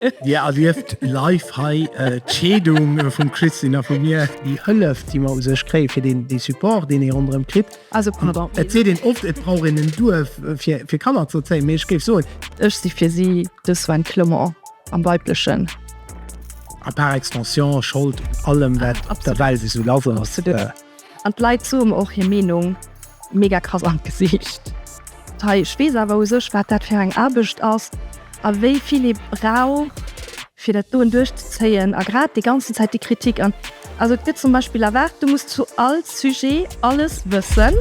Dir erlieft live hei d'Scheedung vum Christine a vu mir. Déi Hëllef, déi mer u sech kréien, fir dee Support, deen ee ronderëm kritt. Also, pardon. Et seet een oft, et brauch een en Duerf, fir Kanner z'erzéien, mee ech géif soen. Ech si fir si de Sven Clement, am Weiblechen. A par extension, Schold un allem, wat op der Welt esou lass ass. An d'Leit soe mer och hir Meenung. Mega krass an d'Gesiicht. Hei, ech weess awer u sech, wat dat fir eng Aarbecht ass a wéi vill ee brauch, fir dat doen duerchzezéien. A grad déi ganzen Zäit déi Kritik an. Also et gëtt zum Beispill erwaart, du muss zu all Sujet alles wëssen.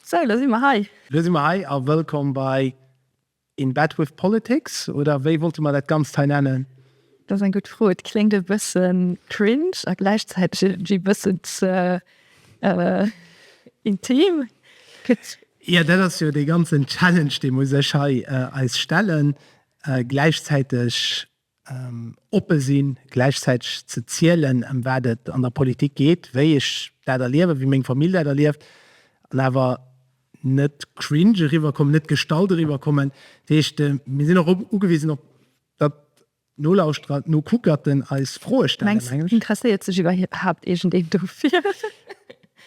Sou, lo si mer hei. Lo si mer hei a wëllkomm bei In Bed With Politics, oder wéi wollte mer dat Ganzt hei nennen? Dat ass eng gutt Fro. Et kléngt e bësse cringe a gläichzäiteg iergendwéi e bëssen ze intim. Jo, dat ass jo dee ganzen Challenge, dee mer u sech hei eis stellen. Gläichzäiteg oppe sinn, gläichzäiteg ze zielen, ëm wat et an der Politik geet, wéi ech dat erliewen, wéi meng Famill dat erlieft, an awer net cringe eriwwerkommen, net gestallt eriwwerkommen. Dat heescht, mir sinn och ugewisen, op datt d'Nolauschterer, d'Nokuckerten eis Froe stellen. Mengs de, interesséiert sech iwwerhaapt iergendeen dofir?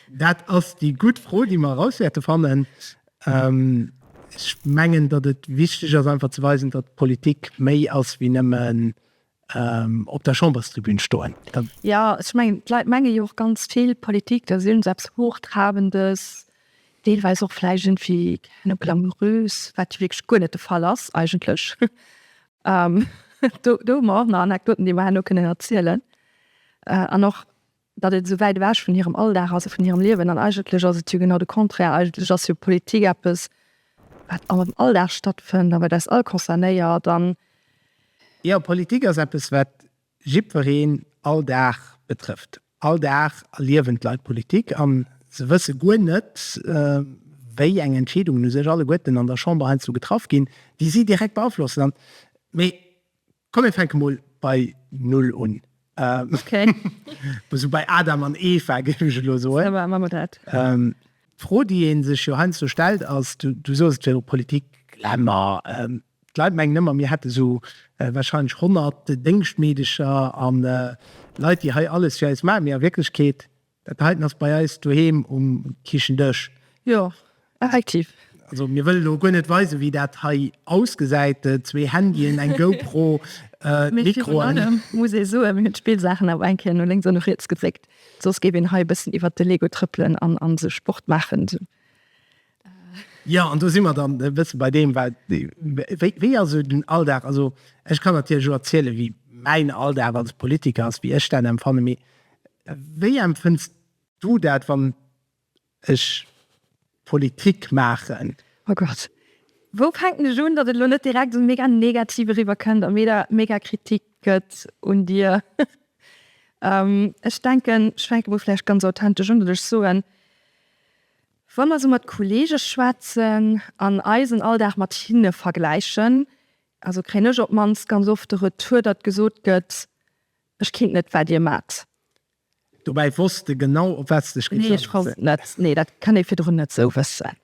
Dat ass déi gutt Fro, déi mer eraus wäerte fannen. Ech mengen, datt et wichteg ass einfach ze weisen, datt Politik méi ass wéi nëmmen op der Chamberstribün stoen. Jo, ech mengen, d'Leit menge jo och ganz vill, Politik, da sinn se eppes Hochtrabendes, deelweis och vläicht iergendwéi glamourös, wat jo wierklech guer net de Fall ass eigentlech. Do hu mer och nach Anekdoten, déi mer herno kënnen erzielen. An och datt et esou wäit ewech vun hirem Alldag ass a vun hirem Liewen, an eigentlech ass et jo genau de Contraire, eigentlech ass jo Politik eppes, wat an eisem Alldag stattfënnt a wat eis all concernéiert an. Jo, Politik ass eppes, wat jiddwereen all Dag betrëfft. All Dag erliewen d'Leit Politik a se wësse guer net, wéi eng Entscheedungen u sech alleguerten an der Chamber heiansdo getraff ginn, déi si direkt beaflossen. An, mee Komm mir fänke mol bei Null un. Esou bei Adam an Eva géif ech elo soen. D'Fro déi ee sech jo heiansdo stellt ass, du soos et virdru, Politik, Glamour. D'Leit mengen ëmmer mir hätte sou warscheinlech 100 Déngschtmeedecher an Leit déi hei alles fir eis maachen, mee a Wierklechkeet Dat heiten ass bei eis doheem um Kichendësch. Jo, effektiv. Also mir wëllen elo guer net weisen, wéi dat hei ausgesäit, zwee Handyen, eng GoPro, Mikroen. Mee virun allem muss ee soen, mir hunn d'Spillsaachen awer eng Kéier no lénks an no riets gedréckt, soss géif een hei e bëssen iwwert de Lego trëppelen an sou Sport maachen. Jo, an do si mer dann e bësse bei deem, wat, wéi, wéi ass esou den Alldag? Also ech kann natierlech elo erzielen, wéi mäin Alldag als Politiker ass, wéi ech dat empfannen. Mee wéi empfënns du dat, wann ech Politik maachen? Oh Gott, wou fänken ech un, datt et elo net direkt esou mega negativ eriwwer kënnt a mir der mega Kritik gëtt un dir? Ech denken, ech fänke mol vläicht ganz authentesch un, datt ech soen, Wa mer sou mat Kollege schwätzen an eisen Alldag mat hinne vergläichen, also kréien ech op d'mannst ganz oft de Retour, datt gesot gëtt, Ech kinnt net, wat Dir maacht. Dobäi wosst de genau, op wat s de dech géifs agesinn. Nee, ech wosst net. Nee, dat kann ee virdrun net sou wëssen.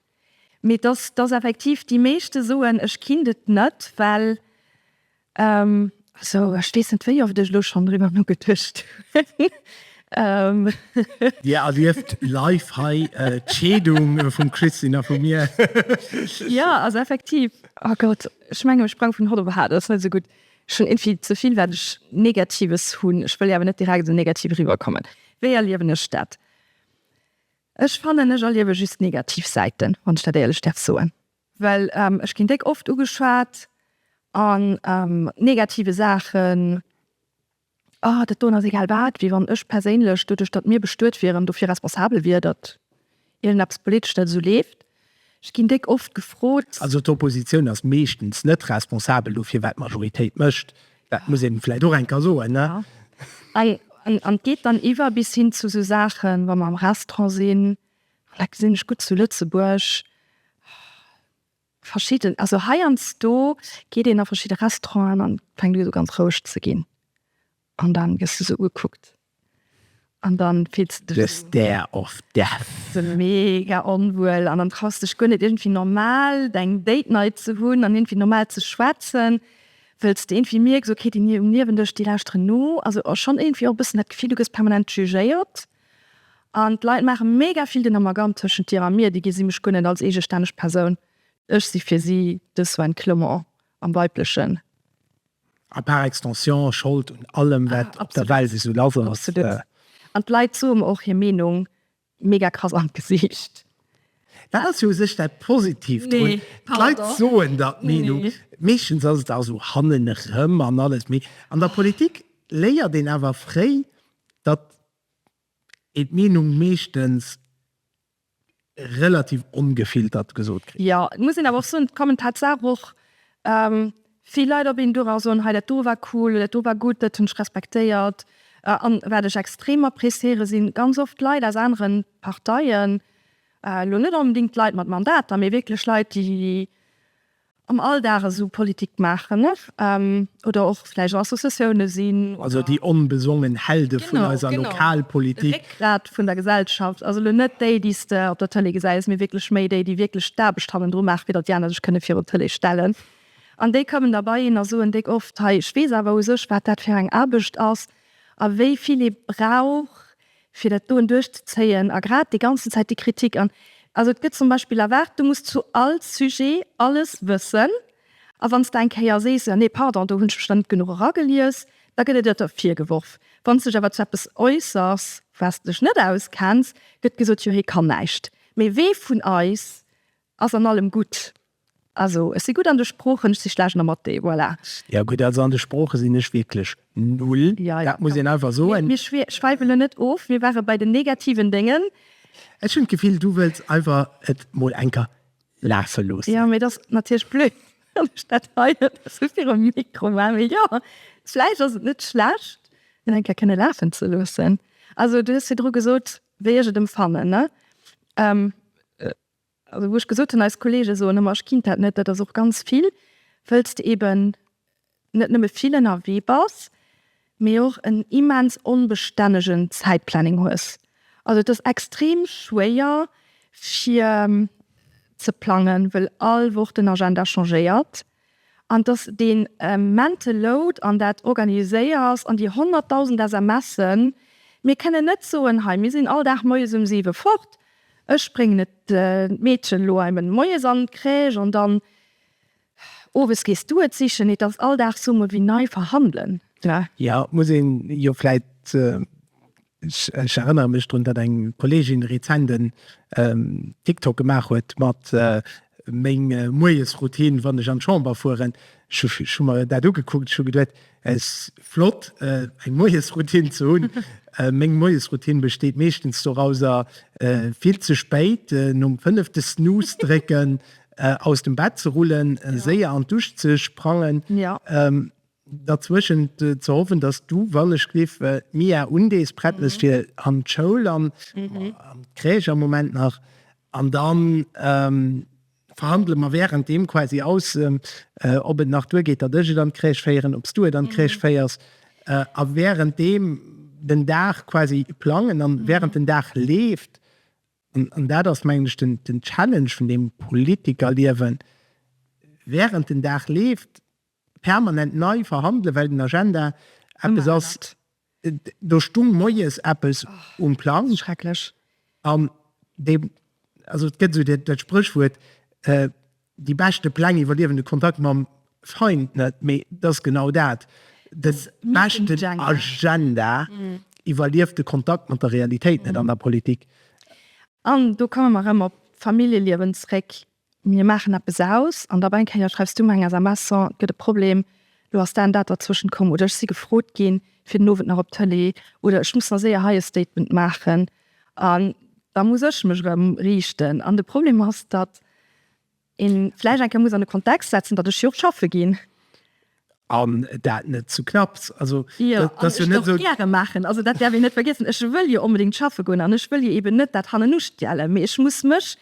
Mee datt effektiv déi meeschte soen, Ech kinnt et net, well Also ech weess net wéi oft ech elo schonn driwwer nogeduecht hunn. Dir erlieft live hei d'Scheedung vum Christine a vu mir. Jo, also effektiv. Oh Gott, ech mengen ech sprang vun Hot op Haart, dat ass net esou gutt. Ech hunn invill ze vill wat ech Negatives hunn. Ech wëll jo awer net direkt esou negativ eriwwer kommen. Wéi erliewen ech dat? Ech fannen ech erliewe just negativ Säiten, wann ech dat éierlech däerf soen. Well ech ginn déck oft ugeschwat an negative Saachen, ah dat doen ass egal wat, wéi wann ech perséinlech doduerch datt mir bestuet wieren dofir responsabel wier datt iergend eppes politesch net esou leeft. Ech ginn déck oft gefrot. Also d'Oppositioun ass meeschtens net responsabel dofir wat d'Majoritéit mécht, dat muss een vläicht och eng Kéier soen ne. An et geet dann iwwer bis hin zu esou Saachen wa mer am Restaurant sinn, Vläit gesinn ech gutt zu Lëtzebuerg verschidden, also heiansdo geet een a verschidde Restauranten an fänkt u esou ganz roueg ze ginn an dann gëss du esou ugekuckt an dann fills de dech esou mega onwuel an dann traus dech guer net iergendwéi normal deng Date Night ze hunn an iergendwéi normal ze schwätzen, wëlls de iergendwéi mierks, okay déi um Niewendesch déi lauschteren no, also schonn iergendwéi och e bëssen dat Gefill du gëss permanent jugéiert. An d'Leit maache mega vill den Amalgam tëschent dir a mir, déi gesi mech guer net als eegestänneg Persoun, ech si fir si de Sven Clement am Weiblechen. A par extension Schold un allem, wat op der Welt esou lass ass. Absolut. An d'Leit soe mer och hir Meenung mega krass an d'Gesicht. Dat ass jo u sech dat Positiivt drun, d'Leit soen der d'Meenung. Meeschtens ass et also hannen erëm an alles. Mee an der Politik léiert een awer fréi, datt een d'Meenung meeschtens relativ ongefiltert gesot kritt. Jo, et muss een awer och soen, et kommen tatsaach och vill Leit op een duer a soen, hei dat do war cool oder dat do war gutt, dat hunn ech respektéiert. An wat ech extrem appréciéiere si ganz oft Leit aus anere Parteien, elo net onbedéngt d'Leit mat Mandater, mee wierklech Leit déi am Alldag esou Politik maachen oder och vläicht an Associatioune sinn. Also déi onbesongen Helde vun eiser Lokalpolitik. Genau, de Réckgrat vun der Gesellschaft. Also elo net déi, déi s de op der Tëlee gesäis, mee wierklech méi déi, déi wierklech d'Aarbecht hannendru maachen, fir datt déi aner sech kënne virun d'Tëlee stellen. An déi kommen da bei een a soen déck oft, Hei, ech weess awer u sech, wat dat fir eng Aarbecht ass a wéi vill ee brauch, fir dat doen duerchzezéien a grad déi ganzen Zäit déi Kritik an, also et gëtt zum Beispill erwaart, du muss zu all Sujet alles wëssen a wann s de eng Kéier sees, jo nee pardon, do hunn ech mech dann net genuch eragelies, da gëtt et der der virgeworf. Wann s de dech awer zu eppes äussers, wou s de dech net auskenns, gëtt gesot, jo hee kann näischt. Mee wee vun eis ass an allem gutt? Also ech si gutt an de Sproochen, ech si schlecht am Mathé, voilà. Jo gutt, also an de Sprooche sinn ech wierklech null, dat muss een einfach soen. Mir schwäifen elo net of, mir ware bei den negativen Déngen. Ech hunn d'Gefill, du wëlls einfach et mol eng Kéier lafe loossen. Jo, mee et ass natierlech blöd, wann ech dat hei net esou virum Mikro maachen. Mee jo, vläicht ass et net schlecht, et eng Kéier kënne lafen ze loossen. Also du hues virdru gesot, wéi ech et emfannen, ne? Also wou ech gesot hunn, eis Kollege soen ëmmer, ech kinnt dat net, dat ass och ganz vill, wëlls de eben net nëmme vill ënnerwee bass, mee och en immens onbestännegen Zäitplanning hues. Also et ass extrem schwéier fir ze plangen, wëll all Woch den Agenda changéiert. An dass dee mental load an dat Organiséiers an déi honnertdausend SMSen, mir kënnen net soen, hei mir sinn all Dag moies um siwe fort, ech bréngen et d'Meedchen elo heimen moies an d'Crèche an dann owes gees du et sichen, et ass all Dag soe mer wéi nei verhandelen. Jo, muss een jo vläicht Ech erënnere mech drun, datt eng Kolleegin rezent en TikTok gemaach huet mat meng Moiesroutine, wann ech an d'Chamber fueren. Ech hu mer dat ugekuckt, ech hu geduet, es flott eng Moiesroutine ze hunn. Meng Moiesroutine besteet meeschtens dorauser, vill ze spéit nom fënnefte Snooze drécken aus dem Bett ze rullen, séier an d'Dusch ze sprangen. Derzwëschent ze hoffen, dass du, wann ech lief, d'Mia undees, prett mess fir an d'Schoul an an d'Crèche am Moment nach, an dann verhandele mer währenddem quasi aus, ob et nach duergeet, datt ech et an d'Crèche féieren, ob s du et an d'Crèche féiers, a währenddem den Dag quasi plangen, an während den Dag leeft, an dat ass mengen ech den den Challenge vun deem Politikerliewen, während den Dag leeft, permanent nei verhandelen, well den Agenda eppes ass, do stung moies eppes um Plang. Schrecklech. An dee, also et gëtt esou dat Spréchwuert, déi beschte Pläng iwwerliewen de Kontakt mam Feind net, mee et ass genau dat, de beschten Agenda iwwerlieft de Kontakt mat der Realitéit net an der Politik. An do komme mer erëm op d'Familljeliewen zréck, Mir maachen eppes aus an op eng Kéier schreifs du mer eng SMS en, et gëtt e Problem, lo ass dat an dat derzwëschent komm oder ech si gefrot ginn fir den Owend nach op d'Tëlee oder ech muss nach séier hei e Statement maachen an da muss ech mech erëm riichten. An de Problem ass, datt ee vläicht eng Kéier muss an de Kontext setzen, datt ech jo och schaffe ginn. An dat net zu knapps. Also dat ass jo net esou. Jo, an ech däerf gäre maachen. Also dat däerf een net vergiessen. Ech wëll jo onbedéngt schaffe goen an ech wëll jo eben net dat Hannenustiellen, mee ech muss mech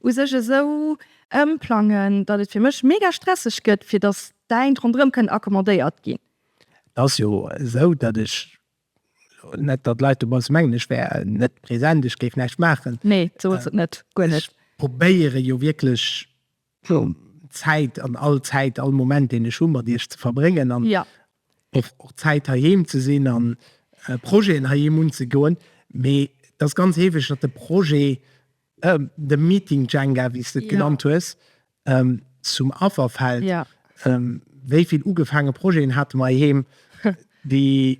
u sech esou ëmplangen, datt et fir mech mega stresseg gëtt, fir datt d'Däint ronderëm kënnen accommodéiert ginn. Et ass jo esou, datt ech, net datt d'Leit dobausse mengen, ech wär net present, ech géif näischt maachen. Nee, sou ass et net, guer net. Ech probéiere jo wierklech Zäit an all Zäit, all Moment deen ech hu mat Iech ze verbréngen an och Zäit heiheem ze sinn a Projeten heiheem unzegoen. Mee et ass ganz heefeg, datt de Projet, de Meeting Jenga, wéi s de et genannt hues, zum Affer fält. Wéi vill ugefaange Projeten hate mer heiheem, déi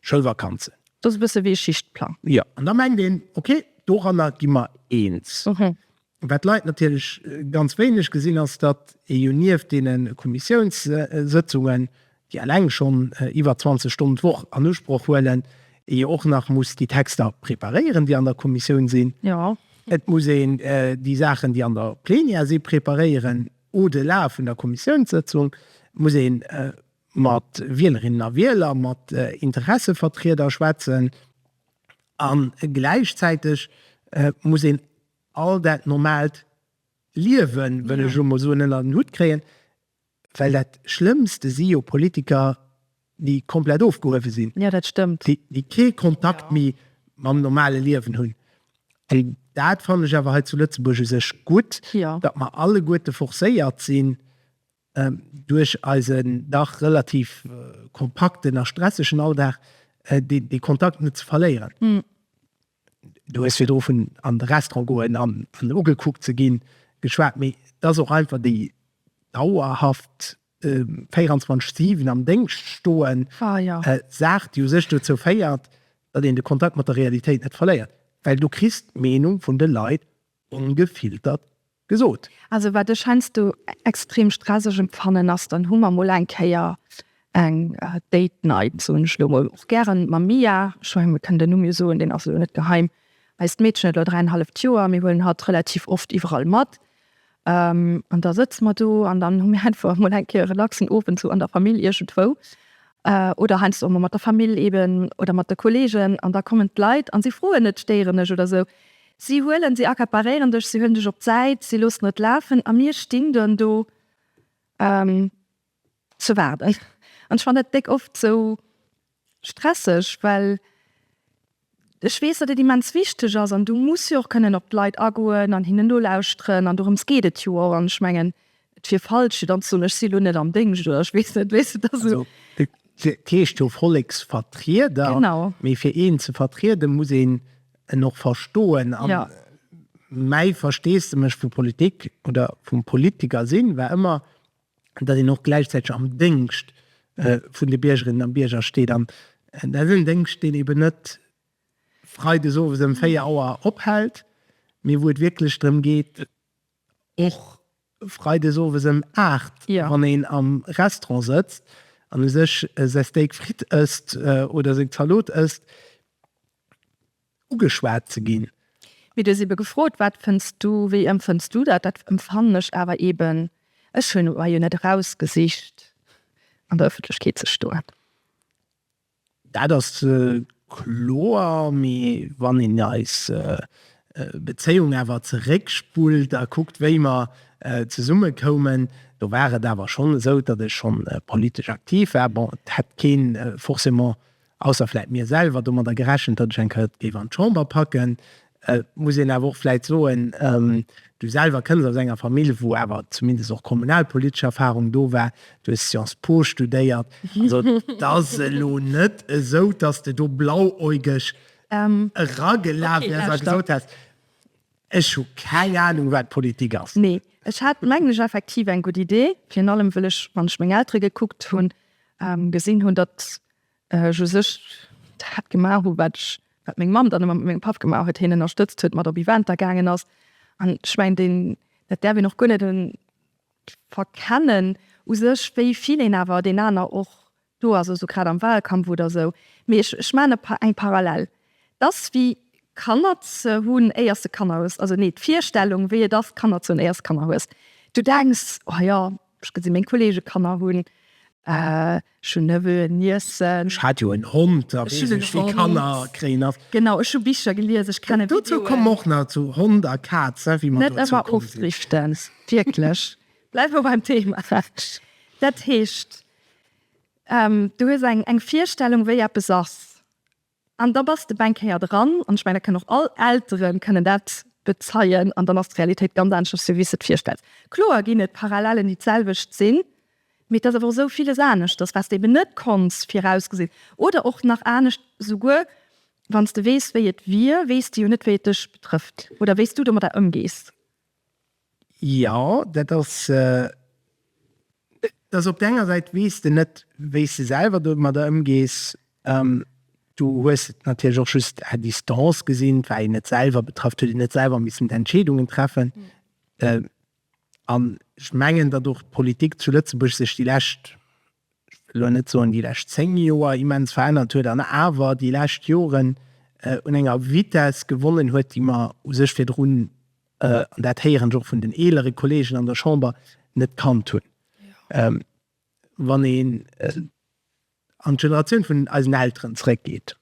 Schoulvakanzen. Dat ass e bësse wéi e Schichtplang. Jo, an da mengt een, ok, doranner gi mer eens. Wat d'Leit natierlech ganz wéineg gesinn, ass, datt ee jo nieft deene Kommissiounssëtzungen, déi eleng schonn iwwer 20 Stonnen d'Woch an Usproch huelen, ee jo och nach muss déi Texter preparéieren, déi an der Kommissioun sinn. Et muss een déi Saachen, déi an der Plenière si preparéieren, au-delà vun der Kommissiounssëtzung muss ee mat Wielerinnen a Wieler, mat Interessevertrieder schwätzen a gläichzäiteg muss een all dat normaalt Liewen, wëll ech elo mol soen, ënnert en Hutt kréien, well dat Schlëmmste si jo Politiker, déi komplett ofgehuewe sinn, déi kee Kontakt méi mam normale Liewen hunn. An dat fannen ech awer hei zu Lëtzebuerg u sech gutt, datt mer alleguerte forcéiert sinn, Duerch eisen dach relativ kompakten a stressegen Alldag dee Kontakt net ze verléieren. Du hues virdru vun an de Restaurant goen an ugekuckt ze ginn geschwat, mee et ass och einfach déi dauerhaft 24, 7 am Déngscht stoen, Saach, déi u sech dozou féiert, datt een de Kontakt mat der Realitéit net verléiert. Well du kriss d'Meenung vun de Leit ongefiltert gesot. Also wat ech heiansdo extrem stresseg empfannen ass, dann hu mer mol eng Kéier eng Date Night, soen ech elo mol, och gären mam Mia, ech menge mir kënnen den Numm jo soen, deen ass elo net geheim, eist Meedchen huet elo dräienhalleft Joer, mir huelen hatt relativ oft iwwerall mat an da sëtze mer do an dann hu mir einfach mol eng Kéier e relaxen Owend sou an der Famill iergendwou oder heiansdo och mol mat der Famill eben oder mat de Kollegen an da kommen d'Leit an si froen net, stéieren ech oder sou. Si huelen, si accaparéieren dech, si huelen dech op d'Säit, si loossen et lafen a mir stinn dunn do an ze waarden. An ech fannen dat déck oft esou stresseg, well ech weess, datt et immens wichteg ass an du muss jo och kënnen op d'Leit agoen an hinnen nolauschteren an dorëms geet et jo och. An ech mengen, et wier falsch fir dann ze soen, ech si elo net am Déngscht oder ech weess net, weess de. Dat ass e. Fir d'Lescht jo Volleksvertrieder, mee fir een ze vertriede muss een en och verstoen an mäi Versteesdemech vu Politik oder vum Politiker sinn war ëmmer, datt een och gläichzäiteg am Déngscht vun de Biergerinnen a Bierger steet an dat ass en Déngscht deen eben net freides owes ëm 4 Auer ophält, mee wou et wierklech drëm geet Och Freides owes ëm 8, wann een am Restaurant sëtzt an u sech säi Steak frites ësst oder seng Zalot ësst, ugeschwat ze ginn. Mee du hues ebe gefrot, wat fënns du, wéi ëmfënns du dat? Dat ëmfannen ech awer eben, ech hunn mer jo net erausgesicht an der Ëffentlechkeet ze stoen. Dat ass kloer, mee wann een eis Bezéiung awer zeréckspullt a kuckt, wéi mer zesumme koumen, do war et awer schonn esou, datt ech schonn politesch aktiv war. Bon, et hätt kee forcément, ausser vläicht mir selwer, domadder gerechent, datt ech eng Kéier et géif an d'Chamber packen. Et muss een awer och vläit soen, du selwer kënns aus enger Famill, wou awer zumindest och kommunalpolitesch Erfahrung do war. Du hues Sciences Po studéiert. Also et ass elo net esou, dass de do blauäugeg eragelaf wäers a gesot häss, ech hu keng Ahnung, wat Politik ass. Nee, ech hat, mengen ech, effektiv eng gutt Idee, virun allem wëll ech, wann ech meng Eltere gekuckt hunn, gesinn hunn, datt ech u sech dat gemaach hu wat ech, wat meng Mamm dann ëmmer mat mengem Papp gemaach huet, hien ënnerstëtzt huet, mat op Eventer gaangen ass. An ech mengen deen, dat däerf een och guer net verkennen u sech, wéi vill een awer deen aner och do ass, also grad am Wahlkampf oder esou. Mee ech, ech maachen e, eng Parallel, t'ass wéi Kanner ze hunn éier s de Kanner hues, also nee, d'Virstellung wéi et ass Kanner ze hunn éier s de Kanner hues. Du denks, oh jo, Ech gesi meng Kollege Kanner hunn. Ech hunn Neveu'en, Niècen. Ech hat jo en Hond a weess ech wéi Kanner kréien ass. Genau, ech hu Bicher gelies, ech kennen Videoen. Dozou kommen mer och nach, zu Hond a Kaz, wéi mer dozou komm sinn. Net ëmmer ofdriften, wierklech. Bleiwe mer beim Thema. Dat heescht, du hues eng Virstellung, wéi eppes ass. An da bass de Bankéier dran. An ech mengen, dat kënnen och all Eltere kënnen dat bezeien. An dann ass d'Realitéit ganz aneschters, wéi s de et virstells. Kloer ginn et Parallelen, déi d'selwecht sinn, mee et ass awer och esou viles aneschters, wat s de eben net konns virausgesinn. Oder och nach anescht, Esouguer wann s de weess, wéi et wier, weess de jo net, wéi et dech betrëfft oder wéi s du domadder ëmgees. Jo, dat ass. Et ass op der enger Säit weess de net wéi s de selwer domadder ëmgees. Du hues et natierlech och just à distance gesinn, war een net selwer betraff, huet een net selwer missen d'Entscheedungen treffen. An ech mengen, datt och d'Politik zu Lëtzebuerg sech déi lescht, ech wëll elo net soen déi lescht zéng Joer, immens verännert huet an awer déi lescht Joren un enger Vitesse gewonnen huet, déi mer u sech virdrun an dat héieren ech och vun den eelere Kollegen an der Chamber, net kannt hunn. Wann een an d'Generatioun vun eisen Elteren zréckgeet,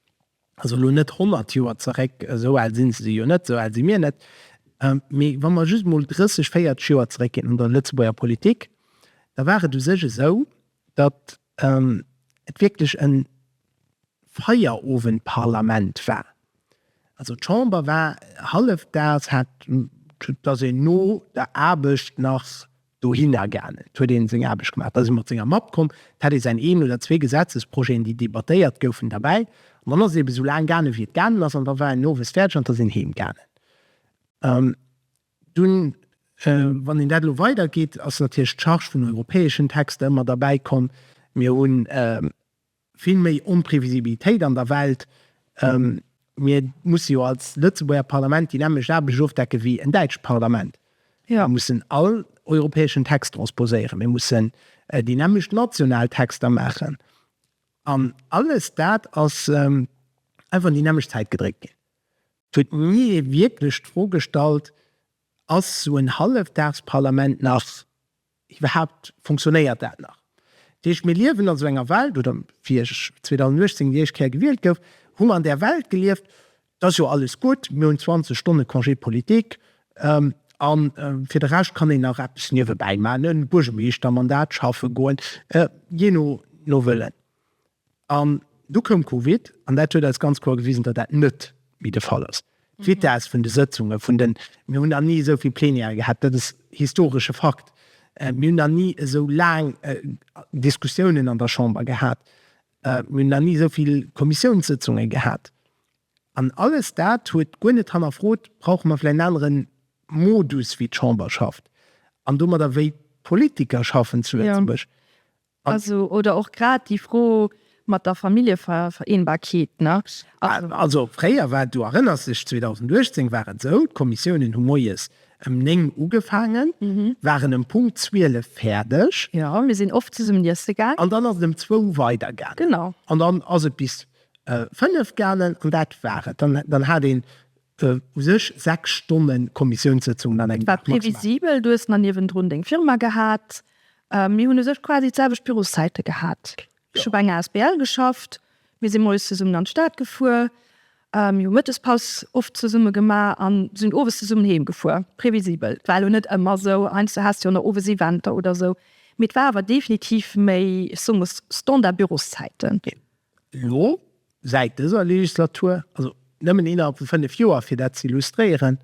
also elo net honnert Joer zeréck, esou al si se jo net, esou al si mir net, mee wa mer just emol 30, 40 Joer zeréckginn an der Lëtzebuerger Politik, da war et u sech esou, datt et wierklech en Feierowendparlament war. Also d'Chamber war hallefdaags, hat da sinn no der Aarbecht nach dohinner gaangen, huet een seng Aarbecht gemaach, da si mat senger Mapp komm, et hat ee säin een oder zwee Gesetzesprojeten, déi debattéiert goufen, derbäi an dann ass et ebe sou laang gaangen, wéi et gaangen ass an da war een owes fäerdeg an da sinn heem gaangen. Dunn, wann een dat elo weidergeet, ass natierlech d'Charge vun europäeschen Texter ëmmer derbäi komm. Mir hu vill méi Onprevisibilitéit an der Welt. Mir musse jo als Lëtzebuerger Parlament déi nämmlecht Aarbecht ofdecke wéi en däitscht Parlament. Mir mussen all europäeschen Text transposéieren, mir mussen déi nämmlecht national Texter maachen an alles dat ass einfach un déi nämmlecht Zäit gedréckt ginn. Et huet ni ee wierklech d'Fro gestallt, Ass esou en Hallefdagsparlament nach iwwerhaapt, funktionéiert dat nach? Dat heescht, mir liewen an esou enger Welt, oder fir 2018, déi éischt Kéier gewielt gouf, hu mer an där Welt gelieft, Et ass jo alles gutt, mir hunn 20 Stonne Congé politique a fir de Rescht kann een nach eppes niewebäi maachen, Buergermeeschtermandat schaffe goen, jee no Wëllen. An du koum Covid an dat huet eis ganz kloer gewisen, datt dat net méi de Fall ass. D'Vitesse vun de Sëtzunge vun den, mir hunn nach ni esou vill Plenière gehat, dat ass historesche Fakt, mir hunn nach ni esou laang Diskussiounen an der Chamber gehat, mir hunn nach ni esou vill Kommissiounssëtzunge gehat. An alles dat huet guer net hannerfrot, brauche mer vläicht en anere Modus wéi d'Chamber schafft an domadder wéi d'Politiker schaffen zu Lëtzebuerg? Also, oder och grad déi Fro mat der Familljevereenbarkeet, ne? Also, fréier war et, du erënners dech, 2018 war et esou, d'Kommissiounen hu moies ëm néng ugefaangen, waren ëm Punkt zwielef fäerdeg. Jo, mir sinn oft zesummen iesse gaangen. An dann ass et ëm zwou weider gaangen. Genau. An dann ass et bis fënnef gaangen an dat war et. Dann hat een U sech 6 Stonne Kommissiounssëtzungen an engem Dag. Et war previsibel, du hues nach niewendrun deng Firma gehat. Mir hunn u sech quasi d'selwecht Büroszeite gehat. Ech hu bei enger Asbl geschafft, mir si moies zesummen an d'Stad gefuer, mir hu Mëttespaus oft zesumme gemaach a sinn owes zesummen heem gefuer. Previsibel, war elo net ëmmer esou, heiansdo has de jo nach owes Eventer oder esou, mee et war awer definitiv méi, ech soe mol, Standard-Büroszeiten. Elo, säit dëser Legislatur, also nëmmen innerhalb vu fënnef Joer, fir dat ze illustréieren,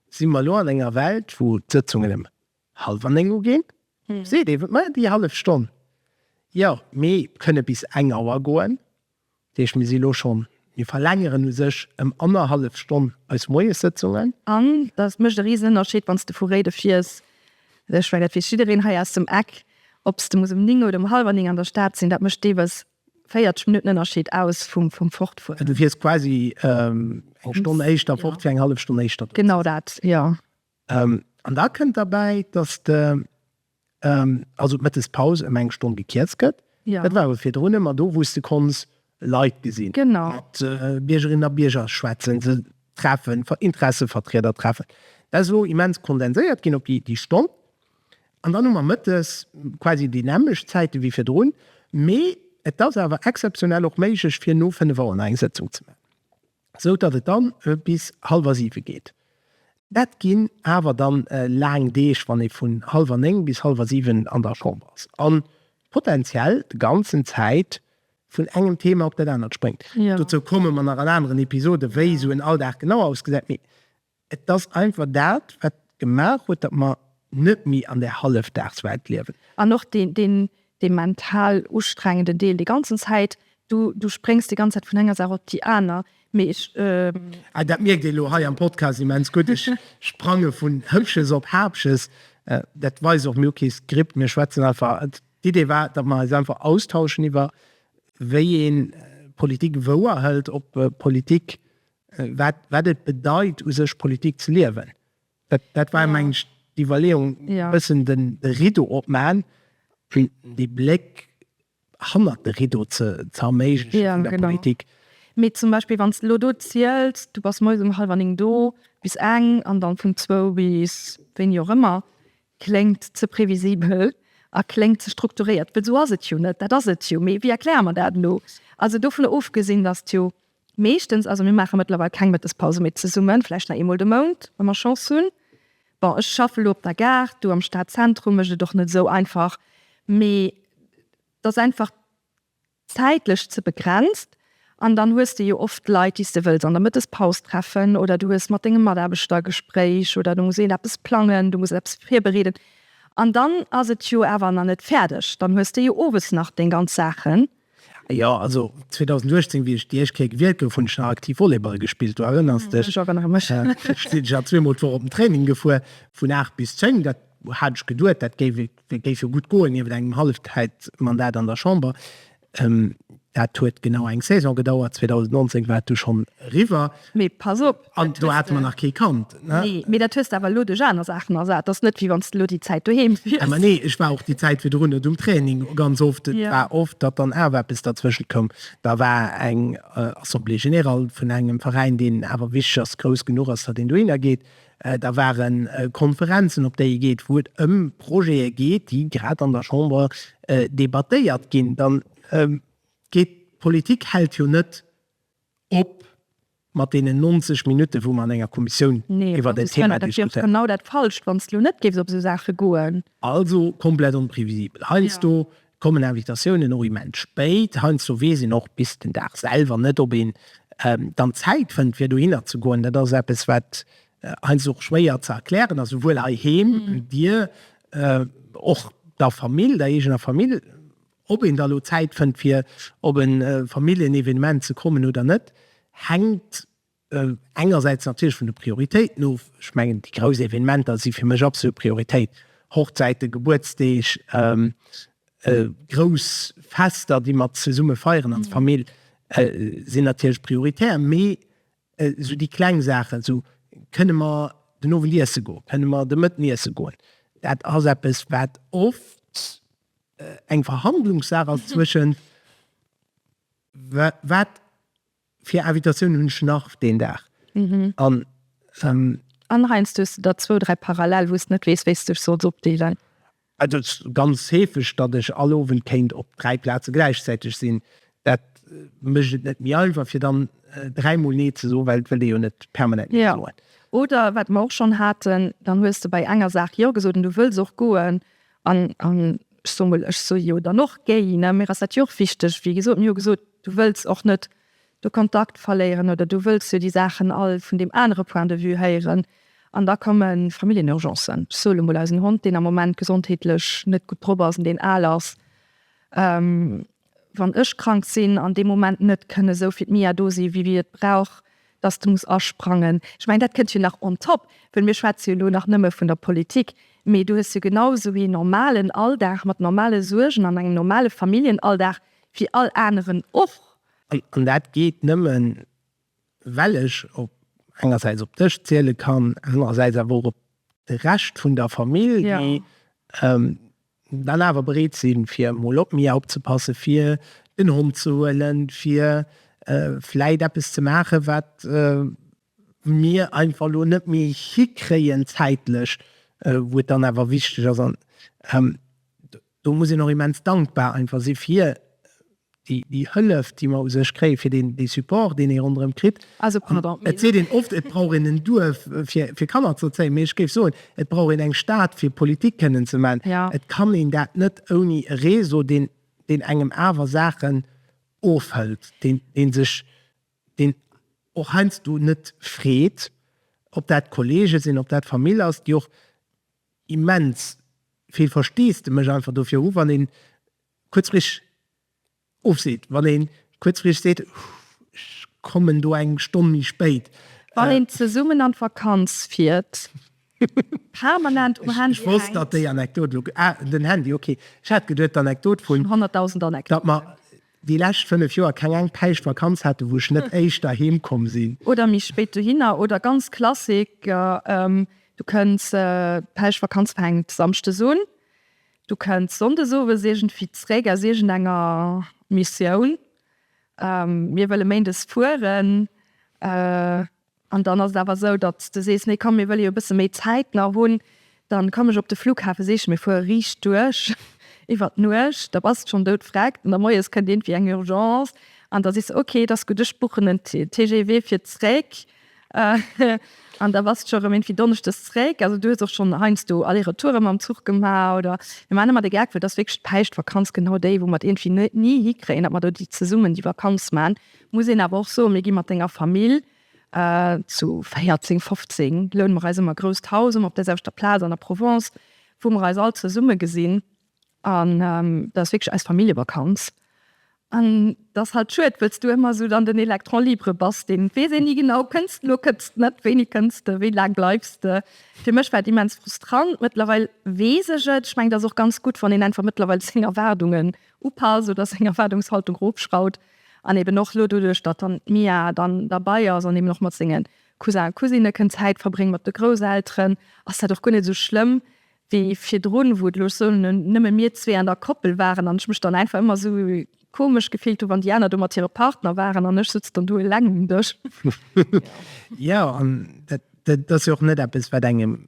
si mer elo an enger Welt, wou d'Sëtzungen ëm hallwer néng uginn. Seet ee, Mä déi hallef Stonn, jo, mir kënne bis eng Auer goen. Dat heescht, mir si elo schonn, mir verlängeren u sech ëm annerhallef Stonn eis Moiessëtzungen. An dat mécht e Risenënnerscheed, wann s de vu Réide fiers, Ech mengen dat weess jiddereen hei aus dem Eck. Ob s de muss ëm 9 oder ëm hallwer 9 an der Stad sinn, dat mécht deelweis 40 Minutten Ënnerscheed aus vum Fortfueren. Du wiers quasi eng Stonn éischter fort fir eng hallef Stonn éischter do ze sinn. Genau dat, jo. An da kënnt derbäi, datt de, also d'Mëttespaus ëm eng Stonn gekierzt gëtt. Dat war awer virdrun ëmmer do, wou s de konns Leit gesinn, mat Biergerinnen a Bierger schwätzen, se treffen, Interessevertrieder treffen. Dat ass elo immens kondenséiert ginn op déi Stonn. An dann hu mer mëttes quasi déi nämmlecht Zäite wéi virdrun, mee et ass awer exzeptionell och méiglech fir no fënnef Auer nach eng Sëtzung ze maachen, esou datt et dann bis hallwer siwe geet. Dat ginn awer dann laang Deeg, wann ee vun hallwer néng bis hallwer siwen an der Chamber ass a potenziell de ganzen Zäit vun engem Thema op dat anert spréngt, dozou komme mer nach an aneren Episode wéi esou en Alldag genau ausgesäit, mee et ass einfach dat wat gemaach huet, datt mer net méi an där Hallefdagswelt liewen. An och dee mental ustrengende Deel, déi ganzen Zäit, du spréngs déi ganz Zäit vun enger Saach op déi aner, mee ech. Ah dat mierkt ee lo hei am Podcast immens gutt, ech sprange vun Hëppches op Haapches, dat weist och, mir hu kee Skript, mir schwätzen einfach. D'Idee war, datt mer eis einfach austauschen iwwer wéi ee Politik wouer hëlt, ob Politik, wat et bedeit u sech Politik ze liewen. Dat war meng ech d'Iwwerleeung, e bëssen de Rideau opmaen, fir dee Bléck hannert de Rideau ze erméigleche vun der Politik. Mee zum Beispill wann s de elo do ziels, du bass moies um hallwer néng do, bis eng, an dann vun zwou bis wéini och ëmmer, Kléngt ze previsibel a kléngt ze strukturéiert, well esou ass et jo net. Dat ass et jo, mee wéi erkläre mer dat elo? Also dovun ofgesinn, datt et jo meeschtens, also mir maache mëttlerweil keng Mëttespause méi zesummen, vläicht nach eemol de Mount, wa mer Chance hunn. Bon, ech schaffen elo op der Gare, do am Stadzentrum, mécht et och net esou einfach, mee et ass einfach, zäitlech ze begrenzt an dann hues de jo oft Leit, déi s de wëlls an der Mëttespaus treffen oder du hues mat dengem Mataarbechter e Gespréich oder du muss een eppes plangen, du muss een eppes virbereeden an dann ass et jo awer nach net fäerdeg, dann hues de jo owes nach deng ganz Saachen. Jo, also 2018, wéi ech déi éischt Kéier gewielt gouf, hunn ech nach aktiv Volleyball gespillt, du erënners dech? Ech erënnere mech. Sinn ech awer zweemol d'Woch op den Training gefuer, vun aacht bis zéng, dat hat ech geduet, dat géif ee Dat géif jo gutt goen, niewent engem Hallefzäitmandat an der Chamber. Dat huet genau eng Saison gedauert, 2019 war et du schonn eriwwer. Mee pass op! An do hate mer nach kee Kand. Nee, mee dat hues de awer elo duerch aner Saachen ersat. Ass net, wéi wann s de elo déi Zäit doheem wiers. Mä nee, ech war och déi Zäit virdrun net um Training ganz oft. Et war oft, datt dann awer eppes derzwëschent koum. Da war eng Assemblée générale vun engem Veräin, deen awer wichteg ass, grouss genuch ass, datt een dohinner geet. Da ware Konferenzen, op déi ee geet, wou et ëm Projete geet, déi grad an der Chamber debattéiert ginn. Dann geet, d'Politik hält jo net op mat deenen 90 Minutten, wou mer an enger Kommissioun iwwert en Thema diskutéieren. Nee, dat ass jo genau dat Falscht, wann s du net géifs op esou Saache goen. Also komplett onprevisibel heiansdo. Kommen Invitatiounen och immens spéit. Heiansdo weess een och bis den Dag selwer net, ob een dann Zäit fënnt, fir dohinner ze goen. Dat ass eppes, wat heiansdo och schwéier ze erklären ass, souwuel heiheem, Dir, och der Famill, der eegener Famill, ob een da elo Zäit fënnt, fir op e Familljenevenement ze kommen oder net, hänkt Engersäits natierlech vun de Prioritéiten of. Ech mengen, déi grouss Evenementer si fir mech absolut Prioritéit, Hochzäiten, Gebuertsdeeg, grouss Fester, déi mer zesumme feieren als Famill, sinn natierlech prioritär. Mee esou déi kleng Saachen, esou kënne mer den Owend iesse goen, kënne mer de Mëtten iesse goen, dat ass eppes, wat oft eng Verhandlungssaach ass zwëschen wat Fir Invitatioun hunn ech nach deen Dag an. An heiansdo hues de der zwou, dräi parallel, wou s de net weess, wéi s de dech solls opdeelen. Et ass ganz heefeg, datt ech all Owend kéint op dräi Plaze gläichzäiteg sinn. Dat mécht et net méi einfach, fir dann dräi Mol Nee ze soen, well et wëllt ee jo net permanent Nee soen. Oder wat mer och schonn haten, dann hues de bei enger Saach Jo gesot an du wëlls och goen An ech soe mol, ech soe jo dann och géi, ne, mir ass dat jo och wichteg, wéi gesot, mir hu gesot, du wëlls och net de Kontakt verléieren oder du wëlls jo déi Saachen all vun deem anere Point de vue héieren. An da komme Familljenurgencen, ech soe lo mol, eisen Hond, deen am Moment gesondheetlech net gutt drop ass an deen al ass, wann ech krank sinn an dee Moment net kënne sou fir d'Mia do sinn, wéi et brauch, dass de muss asprangen. Ech mengen, dat kënnt jo nach on top, well mir schwätze jo elo nach nëmme vun der Politik, mee du hues jo genau sou een normalen Alldag mat normale Suergen an engem normale Familljenalldag wéi all aneren och. An dat geet nëmme well ech op engersäits op dech ziele kann, anerersäits awer och op de Rescht vun der Famill, déi dann awer bereet sinn, fir mol op mir opzepassen, fir den Hond ze huelen, fir vläit eppes ze maachen, wat mir einfach elo net méi hikréien zäitlech, wou et dann awer wichteg ass. An do muss een och immens dankbar einfach si fir déi Hëllef, déi mer u sech kréien, fir deen, dee Support, deen ee ronderëm kritt. Also, pardon, mä. Et seet een oft, et brauch een en Duerf, fir, fir Kanner ze erzéien, mee ech géif soen, et brauch een eng Stad, fir Politik kënnen ze maachen. Ja. Et kann een dat net ouni e Réseau, deen, deen engem awer Saachen ofhëlt, deen, deen sech, deen och heiansdo net freet, ob dat Kollege sinn, ob dat Famill ass, déi och immens vill Versteesdemech einfach dofir hu wann een kuerzfristeg ofseet, wann ee kuerzfristeg seet, ech kommen do eng Stonn méi spéit. Wann een zesummen an d'Vakanz fiert, permanent um Handy hänkt. Ech wosst, datt déi Anekdot elo, ah, den Handy, okay, ech hat geduet, d'Anekdot vun. Honnertdausend Anekdoten. Datt mer déi lescht fënnef Joer keng eng Päischt Vakanz haten, wou ech net éischter heem komm sinn. Oder méi spéit dohinner. Oder ganz Klassiker, du kënns, d'Päischtvakanz fänkt Samschdes un, Du kënns Sonndes owes iergendwéi zréck aus iergendenger Missioun. Mir wëlle Méindes fueren. An dann ass et awer esou, datt s de sees, Nee komm, mir wëlle jo e bësse méi Zäit nach hunn. Dann komm ech op de Flughafen, sees, Mir fuere riicht duerch iwwer d'Nuecht. Da bass de schonn doudfreg. An da moies kënnt iergendwéi eng Urgence. An da sees de, Ok, et ass gutt, ech buchen en TGV fir zréck. An da bass de scho rëm iergendwéi donneschdes zréck. Also du hues och schonn heiansdo Aller-Retoure mam Zuch gemaach, oder? Mir maachen ëmmer de Gag, well et ass wierklech d'Päischtvakanz, genau déi, wou mer et iergendwéi ni hikréien, datt mer do déi zesummen déi Vakanz maachen. Muss een awer och soen, mir gi mat denger Famill zu véierzéng, fofzéng loune mer eis ëmmer e grousst Haus, ëmmer op därselwechter Plaz an der Provence, wou mer eis all zesumme gesinn. An dat ass wierklech eis Familljevakanz. An dat ass halt schued, wëlls du ëmmer esou dann den Electron libre bass, deen weess een ni genau, kënns de elo, kënns de net, wéini kënns de, wéi laang bleifs de. Fir mech war et immens frustrant. Mëttlerweil weess ech et. Ech mengen, et ass och ganz gutt, wann een einfach mëttlerweil seng Erwaardungen upasst oder seng Erwaardungshaltung erofschrauwt. An eben och elo doduerch, datt dann d'Mia dann derbei ass an eben och mat senge Cousin a Cousinne kënnt Zäit verbréngen, mat de Grousselteren, ass dat och guer net esou schlëmm, wéi virdrun, wou et, looss soen, nëmme mir zwee an der Koppel waren an ech mech dann einfach ëmmer esou komesch gefillt hu wann déi aner do mat hire Partner waren an ech sëtz dann do eleng um Dësch. Jo, an dat ass jo och net eppes, wat engem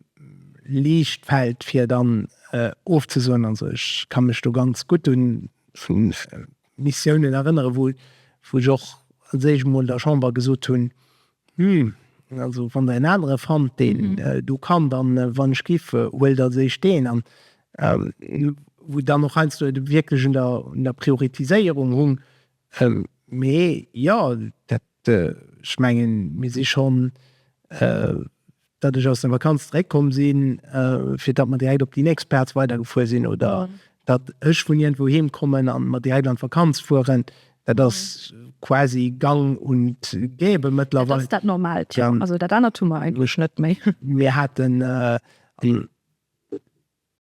liicht fält, fir dann ofzesoen. Also ech ka mech do ganz gutt un Missiounen erënneren, wou ech och, sot ech emol, der Chamber gesot hunn, Humm, also wann der een anere fannt deen do kann, dann wann ech giff, huelt als éischt deen an. Wou dann och heiansdo et wierklech un der Prioritiséierung hung, mee jo dat, ech mengen mir si schonn, datt ech aus der Vakanz zeréckkomm si fir datt mer direkt op déi nächst Plaz weidergefuer sinn oder datt ech vun iergendwou heem kommen a mer direkt an d'Vakanz fueren, dat ass quasi gang und gäbe mëttlerweil. Dat ass dat Normaalt, jo. Also dat anert hu mer eigentlech net méi. Mir haten.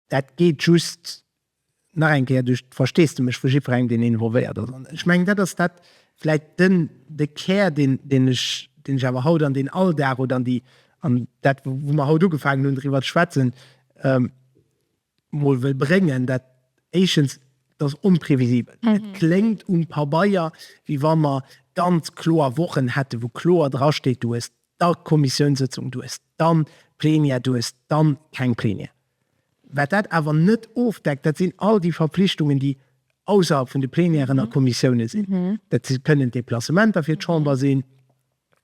Dat geet just nach eng Kéier duerch d'Versteesdemech vu jiddwerengem, deen involvéiert ass. An ech mengen, dat ass dat vläicht den, de Kär, deen, deen ech, deen ech awer haut an deen Alldag oder an déi, an dat, wou mer haut ugefaangen hunn driwwer ze schwätzen, emol wëll bréngen, dat éischens, et ass onprevisibel. Et kléngt um Pabeier, wéi wa mer ganz kloer Wochen hätten, wou kloer drasteet, du hues da Kommissiounssëtzung duerst, dann Plenière duerst, dann keng Plenière. Wat dat awer net ofdeckt, dat sinn all déi Verpflichtungen, déi ausserhalb vun de Plenièren a Kommissiounen sinn. Dat kënnen Deplacementer fir d'Chamber sinn,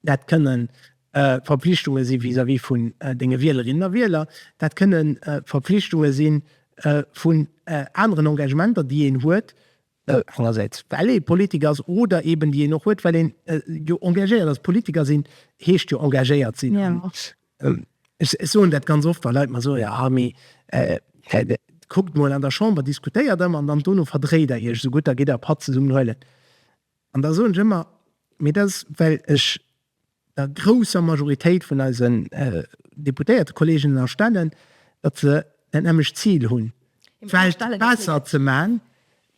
dat kënnen Verpflichtunge si vis-à-vis vun denge Wielerinnen a Wieler, dat kënnen Verpflichtunge si vu aneren Engagementer, déi een huet, Engersäits well ee Politiker ass oder eben déi een och huet, well een jo engagéiert ass. Politiker sinn heescht jo engagéiert sinn. Ech soen dat ganz oft, wa Leit mer soen, jo Armi, kuckt emol an der Chamber, diskutéiert ëmmer an dann dono verdréit Der Iech esougutt, da gitt Der e Patt zesummen huelen. An da soen ech ëmmer, mee dat ass well ech der grousser Majoritéit vun eisen Deputéiertekolleegen ënnerstellen, datt se dat nämmlecht Zil hunn, d'Welt besser ze maachen,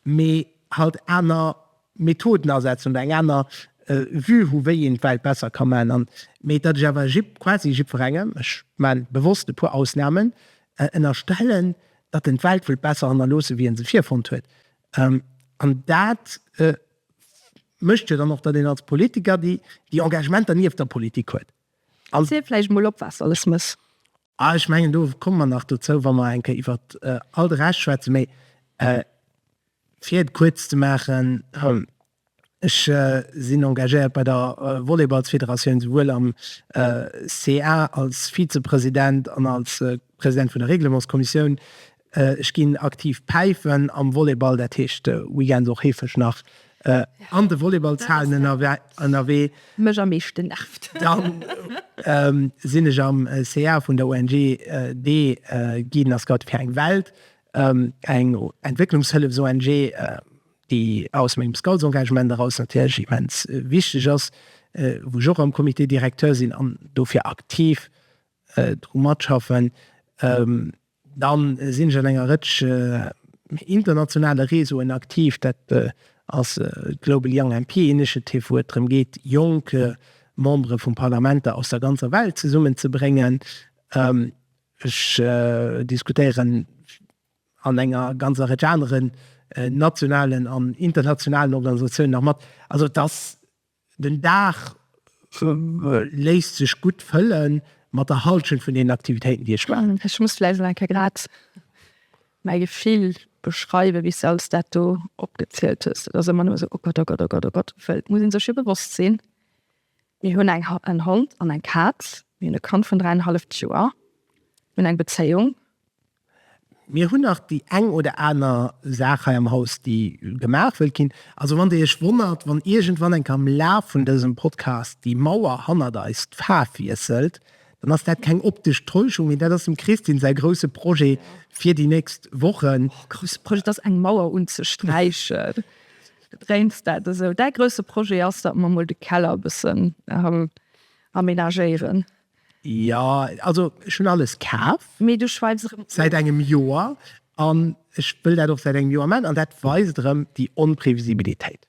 mee halt aner Methoden asetzen oder eng aner Vue hu wéi een d'Welt besser ka maachen. Mee datt ech awer quasi jiddwerengem, ech maachen bewosst e puer Ausnamen, ënnerstellen, datt en d'Welt wëllt besser hannerloossen, wéi e se virfonnt huet, an dat mécht jo dann och, datt een als Politiker déi Engagementer nieft der Politik huet. Ziel vläicht emol op, wat alles muss. Ah, ech mengen, do komme mer nach dozou, wa mer eng Kéier iwwer all de Rescht schwätzen. Mee fir et kuerz ze maachen, Ech sinn engagéiert bei der Volleyballsfederatioun, souwuel am ca als Vizepresident an als President vun der Reglementskommissioun. Ech ginn aktiv päifen am Volleyball, dat heescht weekends och heefeg nach an de Volleyballshalen ënnerwee. Mech am meeschten nervt. Dann sinn ech am ca vun der ONG dee Guiden a Scouten fir eng Welt, eng Entwécklungshëllefs-ONG, déi aus mengem Scoutsengagement eraus natierlech immens wichteg ass, wou ech och am Comité directeur sinn an dofir aktiv dru matschaffen. Dann sinn ech an enger Rëtsch internationale Réseauen aktiv. Dat ass d'Global Young MP Initiative, wou et drëm geet, jonk Membere vu Parlamenter aus der ganzer Welt zesummen ze bréngen. Ech diskutéieren an enger ganzer Rëtsch aneren nationalen an internationalen Organisatiounen nach mat. Also et ass Den Dag léisst sech gutt fëlle mat der Halschent vun deenen Aktivitéiten, déi ech maachen. Ech muss vläicht nach eng Kéier grad mäi Gefill beschreiwen, wéi s de alles dat do opgezielt hues. Et ass ëmmer nëmme esou, o Gott, o Gott, o Gott, o Gott. Well et muss ee sech jo bewosst sinn, mir hunn en Hond an eng Kaz, mir hunn e Kand vun dräienhalleft Joer, mir hunn eng Bezéiung, Mir hunn nach déi eng oder aner Saach hei am Haus, déi gemaach wëllt ginn. Also wann Dir Iech wonnert, wann iergendwann eng am Laf vun dësem Podcast déi Mauer hannert eis d'Faarf wiesselt, dann ass dat keng optesch Täuschung, mee dat ass dem Christine säi grousse Projet fir déi nächst Wochen. Mäi grousse Projet, et ass eng Mauer unzesträichen. Bedréins dat esou? Däi grousse Projet ass, datt mer emol de Keller e bëssen amenagéieren. Jo, also ech hunn alles kaf. Mee du schweifs erëm of. Säit engem Joer, an ech wëll dat och säit engem Joer maachen, an dat weist erëm déi Onprevisibilitéit.